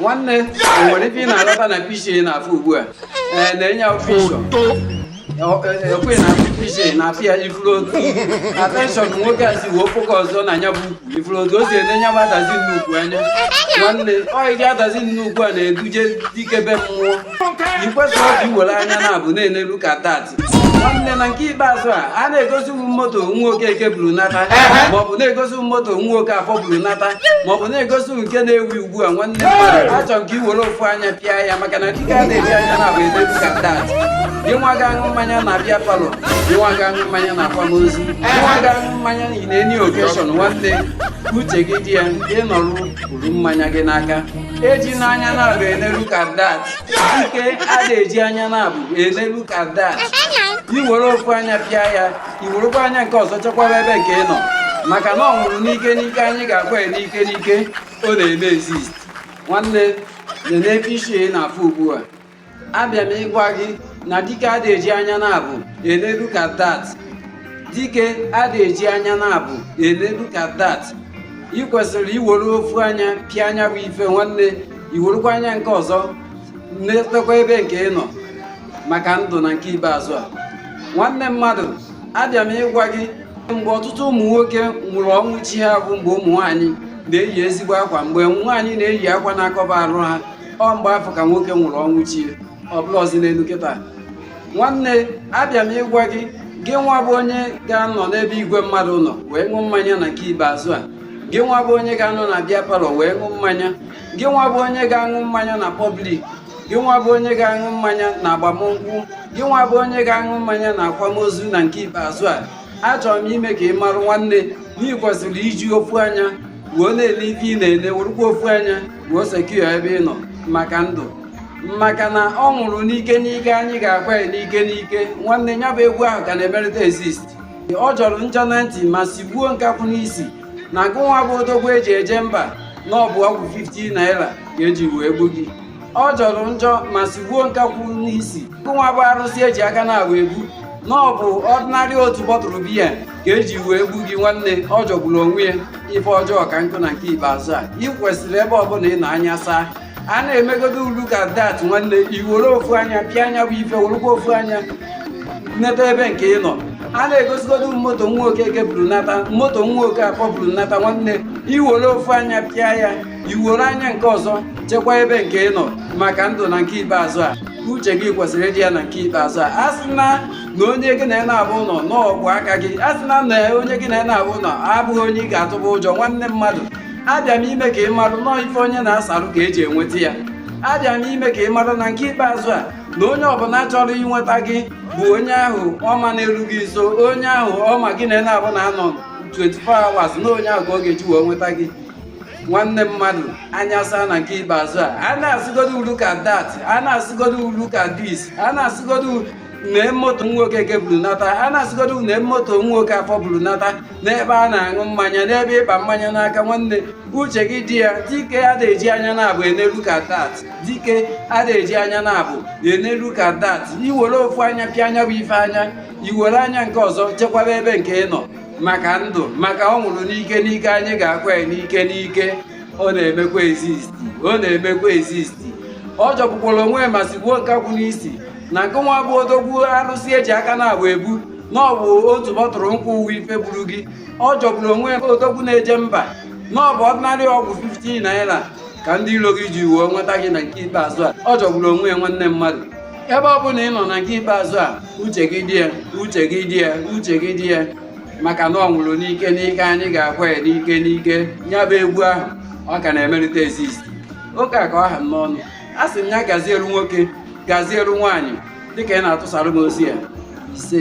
nwanne nwere ife ị na-alọta na pc na-afụ ugbu a ee nene picture ekwe na picture ị na-afụ ya ị fụrụ otu attention nwoke a si wee focusuo na nya bụ ukwu ị fụrụ otu o si ene nya bụ adazi nnukwu anya nwanne ọ ụdị adazi nnukwu a na-eduje dike be mmụọ i kwesịrọ ka i were anya naabọ na-ene look at that nwanne na nke ikpeazụ a a na-egosi ụmụ moto nwa okeke buru nata maọbụ na-egosi ụmụ moto nwa okafọ buru nata maọbụ na-egosi nke na-ewu ugbu a nwanne achọ m ka i were ofu anya pịa ya maka na dike ada eji anya naabọ ene look at that gị nwa ga-aṅụ mmanya na beer parlour gị nwa ga-aṅụ mmanya na akwamozu gị nwa ga-aṅụ mmanya na any occasion nwanne uche gị dị ya ị nọrụ buru mmanya gị n'aka eji anya naabọ ene look at that dike ada eji anya naabọ ene look at that i were ofu anya pịa ya i werekwa anya nke ọzọ chekwaba ebe nke ị nọ maka na ọ nwụrụ n'ike n'ike anyị ga-akwa ya n'ike n'ike ọ na-eme exist nwanne nene picture ị na-afụ ugbu a abịa m ịgwa gị na dike ada eji anya naabọ ene look at that dike ada eji anya naabọ ene look at that ị kwesịrị iwere ofu anya pịa nya bụ ife nwanne i werukwa anya nke ọzọ netekwa ebe nke ị nọ maka ndụ na nke ikpeazụ a nwanne mmadụ abịa m ịgwa gị mgbe ọtụtụ ụmụ nwoke nwụrụ ọnwụ chi ha bụ mgbe ụmụ nwaanyị na-eyi ezigbo akwa mgbe nwaanyị na-eyi akwa na-akọba arụ ha ọ mgbe afụ ka nwoke nwụrụ ọnwụ chi ya ọ bụrọzi n'elu kịta nwanne abịa m ịgwa gị gị nwa bụ onye ga-anọ n'ebe igwe mmadụ nọ wee ṅụọ mmanya na nke ikpeazụ a gị nwa bụ onye ga-anọ na beer parlour wee ṅụọ mmanya gị nwa bụ onye ga-aṅụ mmanya na public gị nwa bụ onye ga-aṅụ mmanya na agbamnkwụ gị nwa bụ onye ga-aṅụ mmanya na akwamozu na nke ikpeazụ a achọrọ m ime ka ị marụ nwanne na ị kwesịrị iji ofu anya wee na-ele ife ị na-ele werụkwa ofu anya wee secure ebe ị nọ maka ndụ maka na ọ nwụrụ n'ike n'ike anyị ga-akwa ya n'ike n'ike nwanne ya bụ egwu ahụ ka na-emerịta exist ọ jọrọ njọ na ntị ma sigbuo nkakwụ n'isi na gụnwa bụ odogwu eji eje mba na ọ bụ ọgwụ 50 naira ka eji wee gbu gị ọ jọrọ njọ ma sigbuo nkakwụ n'isi nwa bụ arụsị eji aka naabọ ebu na ọ bụ ordinary otu bottle beer ka eji wee egbu gị nwanne ọ jọgburu onwe ya ife ọjọọ ka nkụ na nke ikpeazụ a ị kwesịrị ebe ọbụla ị nọ anya saa a na-emegodo look at that nwanne i were ofu anya pịa nya bụ ife werekwa ofu anya neta ebe nke ị nọ a na-egosigodo moto nwa okeke buru nata moto nwa okafọ buru nata nwanne i were ofu anya pịa ya iwere anya nke ọzọ chekwa ebe nke ị nọ maka ndụ na nke ikpeazụ a uche gị kwesịrị ịdị ya na nke ikpeazụ a a sị na na onye gị na na-abụ ụlọ n'ọgwụ aka gị a sị na na onye gị na na-abụ ụlọ abụghị onye ị ga-atụba ụjọ nwanne mmadụ abịa m ime ka ị marụ na ọ ife onye na-asarụ ka eji enweta ya abịa m ime ka ị marụ na nke ikpeazụ a na onye ọbụla chọrọ inweta gị bụ onye ahụ ọma na-eru gị nso onye ahụ ọma gị na na-abụ na anọ 24 hours na onye ahụ ka ọ ga-eji wee nweta gị nwanne mmadụ anya saa na nke ikpeazụ a a na-asịgodo ulu ka dat a na-asịgodo ulu ka dis a na-asịgodo nee moto nwoke eke buru nata a na-asịgodo nee moto nwoke afọ buru nata n'ebe a na-aṅụ mmanya n'ebe ị kpa mmanya n'aka nwanne uche gị dị ya dike a na-eji anya na-abụ enelu ka dat dike a na-eji anya na-abụ enelu ka dat iwere ofu anya pịa ya bụ ife anya iwere anya nke ọzọ chekwaba ebe nke ị nọ maka ndụ maka ọ nwụrụ n'ike n'ike anyị ga-akwa ya n'ike n'ike ọ na-emekwa exist ọ na-emekwa exist ọ jọgbukwara onwe ya ma sigbuo nkakwụ n'isi na nke nwa bụ odogwu arụsị eji aka na-abụ ebu na ọ bụ otu bottle nkwụ bụ ife gburu gị ọ jọgburu onwe ya odogwu na-eje mba na ọ bụ ordinary ọgwụ 15 naira ka ndị iro gị ji wee nweta gị na nke ikpeazụ a ọ jọgburu onwe ya nwanne mmadụ ebe ọ bụla ị nọ na nke ikpeazụ a uche gị dị ya uche gị dị ya uche gị dị ya maka na ọ nwụrụ n'ike n'ike anyị ga-akwa ya n'ike n'ike ya bụ egwu ahụ ọ ka na-emerịta exist oke a ka ọ ha m n'ọnụ asị m ya gazieru nwoke gazieru nwaanyị dịka ị na-atụsara m ozi ya ise